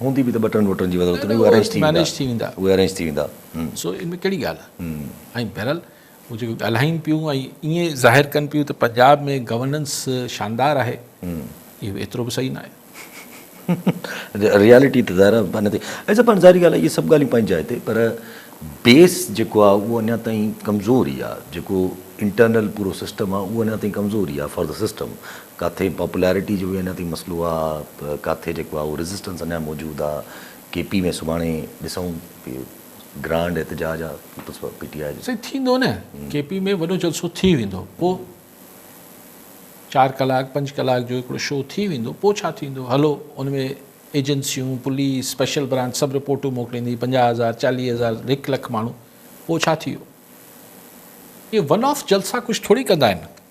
هوندي به ته ٻٽن وٽن جي وزارتون اهي ارينج ٿي ويندا اهي ارينج ٿي ويندا سو ان ۾ ڪهڙي ڳالهه آهي ۽ بهرحال هو جيڪو ڳالهائين پيون ۽ ائين ظاهر ڪن پيون ته پنجاب ۾ گورننس شاندار آهي اهو ايترو به صحيح نه آهي ريالٽي ته ظاهر آهي نه ٿي اچا پاڻ ظاهري ڳالهه اهي سڀ ڳالهيون پنهنجي جاء تي پر بيس جيڪو آهي اهو اڃا تائين ڪمزور ئي آهي جيڪو انٽرنل پورو سسٽم آهي اهو اڃا تائين ڪمزور ئي آهي فار دا سسٽم ڪاٿي پاپولرٽي جو اڃا تائين مسئلو آ ڪاٿي جيڪو آ اهو ريزسٽنس اڃا موجود آ ڪي پي ۾ سڀاڻي ڏسون ڪي گرانڊ احتجاج آ پيپلز پي ٽي آء جو. سائين ٿيندو نه ڪي پي ۾ وڏو جلسو ٿي ويندو پو چار ڪلاڪ پنج ڪلاڪ جو هڪڙو شو ٿي ويندو پو ڇا ٿيندو هلو ان ۾ ايجنسيون پوليس اسپيشل برانچ سڀ رپورٽون موڪليندي پنجاهه هزار چاليهه هزار هڪ لک ماڻهو پو ڇا ٿي ويو اهي ون آف جلسا ڪجهه ٿوري ڪندا آهن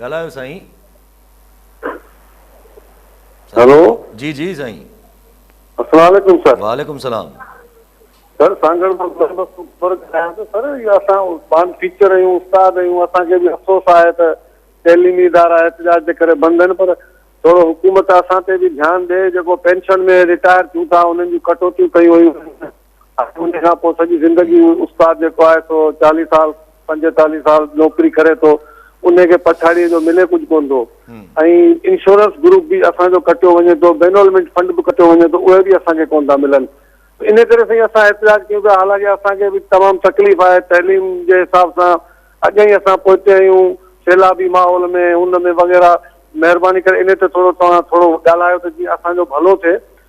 ڳالهايو سائين. هلو جي جي سائين. السلام عليڪم سر. وعليڪم السلام. سر سانگهڙ مان محمد اڪبر ڳالهايان ٿو سر اهو اسان پاڻ ٽيچر آهيون استاد آهيون اسان کي به افسوس آهي ته تعليمي ادارا احتجاج جي ڪري بند آهن پر ٿورو حڪومت اسان تي به ڌيان ڏئي جيڪو پينشن ۾ رٽائر ٿيون ٿا انهن جون ڪٽوتيون ڪيون ويون ان کان پوء سڄي زندگي استاد جيڪو آهي سو چاليهه سال پنجيتاليهه سال نوڪري ڪري ٿو ان کي پڇاڙيء جو ملي ڪجهه ڪونه ٿو ۽ انشورنس گروپ به اسان جو ڪٽيو وڃي ٿو بينولمنٽ فنڊ به ڪٽيو وڃي ٿو اهي به اسان کي ڪونه ٿا ملن ان ڪري سائين اسان احتجاج ڪيون پيا حالانڪه اسان کي به تمام تڪليف آهي تعليم جي حساب سان اڳ ئي اسان پوئتي آهيون سيلابي ماحول ۾ ان ۾ وغيره مهرباني ڪري ان تي ٿورو توهان ٿورو ڳالهايو ته جيئن اسان جو ڀلو ٿئي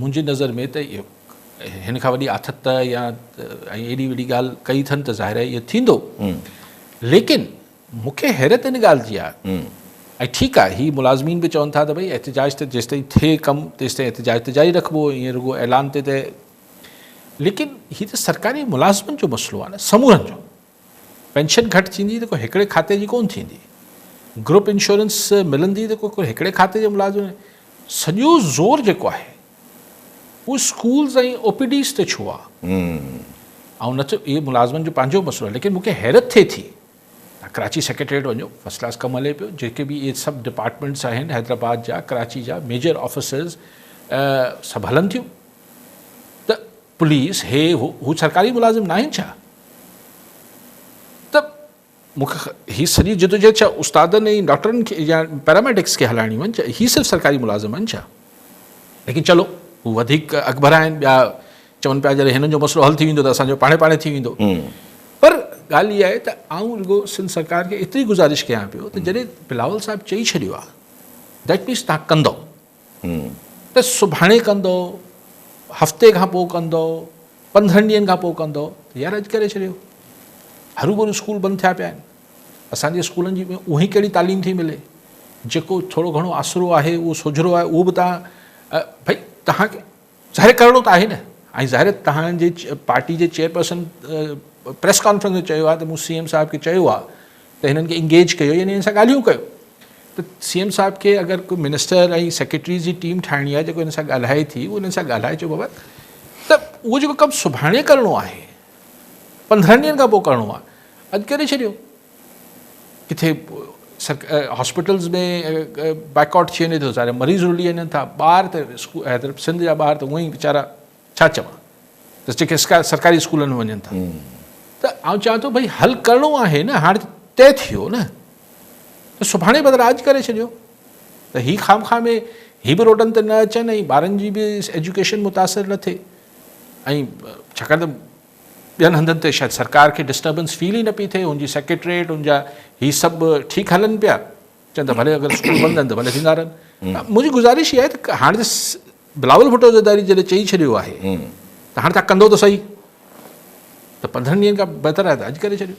منهنجي نظر ۾ ته هن کان وڏي آٿت يا ايڏي وڏي ڳالهه ڪئي اٿن ته ظاهر آهي اهو ٿيندو ليڪن مون کي حيرت ان ڳالهه جي آهي ۽ ٺيڪ آهي هي ملازمين به چون ٿا ته ڀئي احتجاج ته جيستائين ٿئي ڪم تيستائين احتجاج ته جاري رکبو ائين رڳو اعلان تي ته ليڪن هي ته سرڪاري ملازمن جو مسئلو آهي نه سمورن جو پينشن گهٽ ٿيندي ته ڪو هڪڙي کاتي جي ڪونه ٿيندي، گروپ انشورنس ملندي ته ڪو هڪڙي کاتي جي ملازم جي سڄو زور جيڪو آهي اهو اسڪولز ۽ او پي ڊيز تي ڇو آهي؟ آئون نه ٿو اهي ملازمن جو پنهنجو مسئلو آهي ليڪن مون کي حيرت ٿئي ٿي تان ڪراچي سيڪريٽريٽ وڃو فرسٽ ڪلاس ڪم هلي پيو جيڪي به اهي سڀ ڊپارٽمينٽس آهن حيدرآباد جا ڪراچي جا ميجر آفيسز سڀ هلن ٿيون ته پوليس، هي، هو سرڪاري ملازم ناهن ڇا؟ ته مون کي هي سڄي جدوجهد ڇا استادن ۽ ڊاڪٽرن کي يا پيراميڊڪس کي هلائڻيون آهن ڇا؟ هي صرف سرڪاري ملازم آهن ڇا؟ ليڪن چلو هو وڌيڪ اڳڀرا آهن، ٻيا چون پيا جڏهن هنن جو مسئلو حل ٿي ويندو ته اسان جو پاڻهي پاڻهي ٿي ويندو. پر ڳالهه اها آهي ته آئون رڳو سنڌ سرڪار کي ايتري گذارش ڪيان پيو ته جڏهن بلاول صاحب چئي ڇڏيو آهي، ديٽ مينس تهان ڪندئو. هون. ته سڀاڻي ڪندؤ، هفتي کان پوء ڪندؤ، پندرهن ڏينهن کان پوء ڪندؤ ته يار اڄ ڪري ڇڏيو. هروڀرو اسڪول بند ٿيا پيا آهن. اسان جي اسڪولن جي ۾ اونهي ڪهڙي تعليم ٿي ملي. جيڪو ٿورو گهڻو آسرو آهي اهو سوجهرو آهي اهو به تان ڀئي تهان کي ظاهر ڪرڻو ته آهي نه ۽ ظاهر توهان جي پارٽي جي چيئرپرسن پريس ڪانفرنس ۾ چيو آهي ته مون سي ايم صاحب کي چيو آهي ته هنن کي انگيج ڪيو يعني هن سان ڳالهيون ڪيو ته سي ايم صاحب کي اگر ڪو منسٽر ۽ سيڪريٽريز جي ٽيم ٺاهڻي آهي جيڪو هن سان ڳالهائي ٿي اهو هنن سان ڳالهائي چئبو بابا ته اهو جيڪو ڪم سڀاڻي ڪرڻو آهي پندرهن ڏينهن کان پوء ڪرڻو آهي اڄ ڪري ڇڏيو ڪٿي هاسپيٽلز ۾ بائڪاٽ ٿي وڃي ٿو سارا مريض رلي وڃن ٿا ٻار ته حيدرآباد سنڌ جا ٻار ته هونئن ئي ويچارا ڇا چوان ته جيڪي سرڪاري اسڪولن ۾ وڃن ٿا ته آئون چوان ٿو ڀائی حل ڪرڻو آهي نه هاڻ طئي ٿي ويو نه ته سڀاڻي بدران اڄ ڪري ڇڏيو ته هي خام خواهه ۾ هي به روڊن تي نه اچن ۽ ٻارن جي به ايجوڪيشن متاثر نه ٿئي ۽ ڇاڪاڻ ته ٻين هنڌن تي شايد سرڪار کي ڊسٽربنس فيل ئي نه پئي ٿئي، ان جي سيڪريٽريٽ ان جا هي سڀ ٺيڪ هلن پيا، چون ٿا ڀلي اگر اسڪول بند آهن ته ڀلي ٿيندا رهن. منهنجي گذارش اها آهي ته هاڻ ته بلاول ڀٽو زرداري جڏهن چئي ڇڏيو آهي ته هاڻ توهان ڪندو ته سهي ته پندرهن ڏينهن کان بهتر آهي ته اڄ ڪري ڇڏيو.